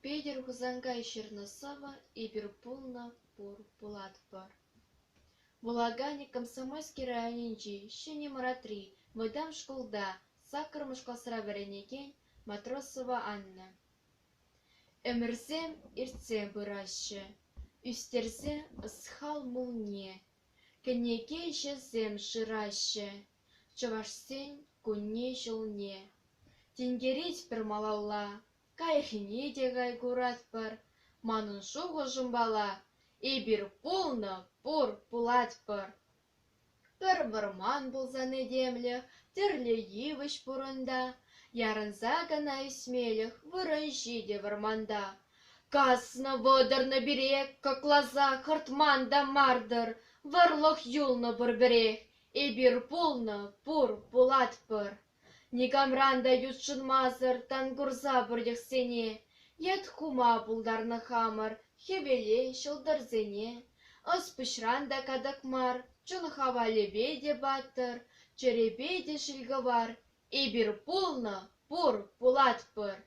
Петӗр Хусанкай ҫырнӑ сӑвӑ «Эпир пулнӑ пур пулатпӑр» вулаканӗ Комсомольски районӗнчи Ҫӗнӗ Мӑратри вӑтам шкулта саккӑрмӗш класра вӗренекен Матросова Анна. Ӗмӗрсем иртсе пыраҫҫӗ, ӳстерсе ӑсхал мулне, кӗнеке ҫӑсем шыраҫҫӗ, Чӑвашсен кунне-ҫулне тинкерет пӗр малалла, каярхине те кай куратпӑр. Манӑн шухӑшӑмпала, эпир пулнӑ, пур, пулатпӑр. Пӗр вӑрман пулсан этемлӗх, тӗрлӗ йывӑҫ пурӑнта. Ярӑнса кӑна ӳсмелӗх вырӑн-ҫи те вӑрманта. Каснӑ-вӑтӑрнӑ пире кӑкласа хӑртман та мар-тӑр, вӑрлӑх юлнӑ пурпӗрех. Эпир пулнӑ, пур, пулатпӑр. Никамран та ютшӑнмасӑр тан курса пӗртӗхсене, йӗт хума пултарнӑ хамӑр хӗвеле ҫӑлтӑрсене. Ӑс-пуҫран та катӑк мар, чун хавалӗпе те паттӑр, чӗрепе те ҫилкӑвар. Эпир пулнӑ, пур, пулатпӑр.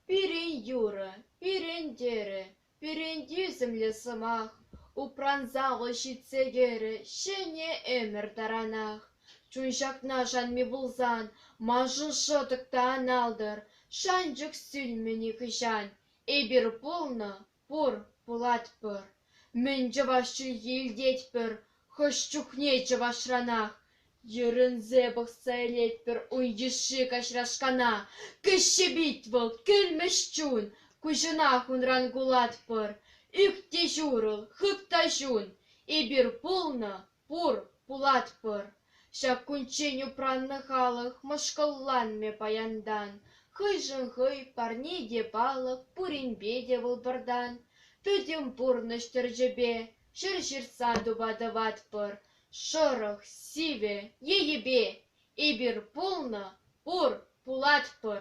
Пирӗн юрӑ, пирӗн тӗрӗ, Перентӳсӗмлӗ сӑмах упранса вӑл ҫитсе кӗрӗ ҫӗнӗ ӗмӗр таранах. Чун ҫакна шанми пулсан, маншӑн шӑтӑк та ан алтӑр. Шанчӑк сӳнмӗ нихӑҫан. Эпир пулнӑ, пур, пулатпӑр. Мӗн чӑваш чӗлхи илтетпӗр, Хӑш чухне чӑвашранах «Йӗрӗнсе пӑхса илетпӗр ун йышши каҫрашкана, Кӗҫҫе пит вӑл, кӗлмӗҫ чун, Куҫӑнах унран кулатпӑр, Ӳк те ҫурӑл, хып та ҫун, Эпир пулнӑ, пур, пулатпӑр!» Ҫак кунччен упраннӑ халӑх мӑшкӑлланмӗ паянтан, Хӑйшӗн хӑй, парне те палӑк, пуринпе те вӑл пӑртан. Пӗтӗм пурнӑҫ тӗрчӗпе Ҫӗр ҫыртса тупа тӑватпӑр шӑрӑх, сивӗ енӗпе эпир пулнӑ, пур, пулатпӑр.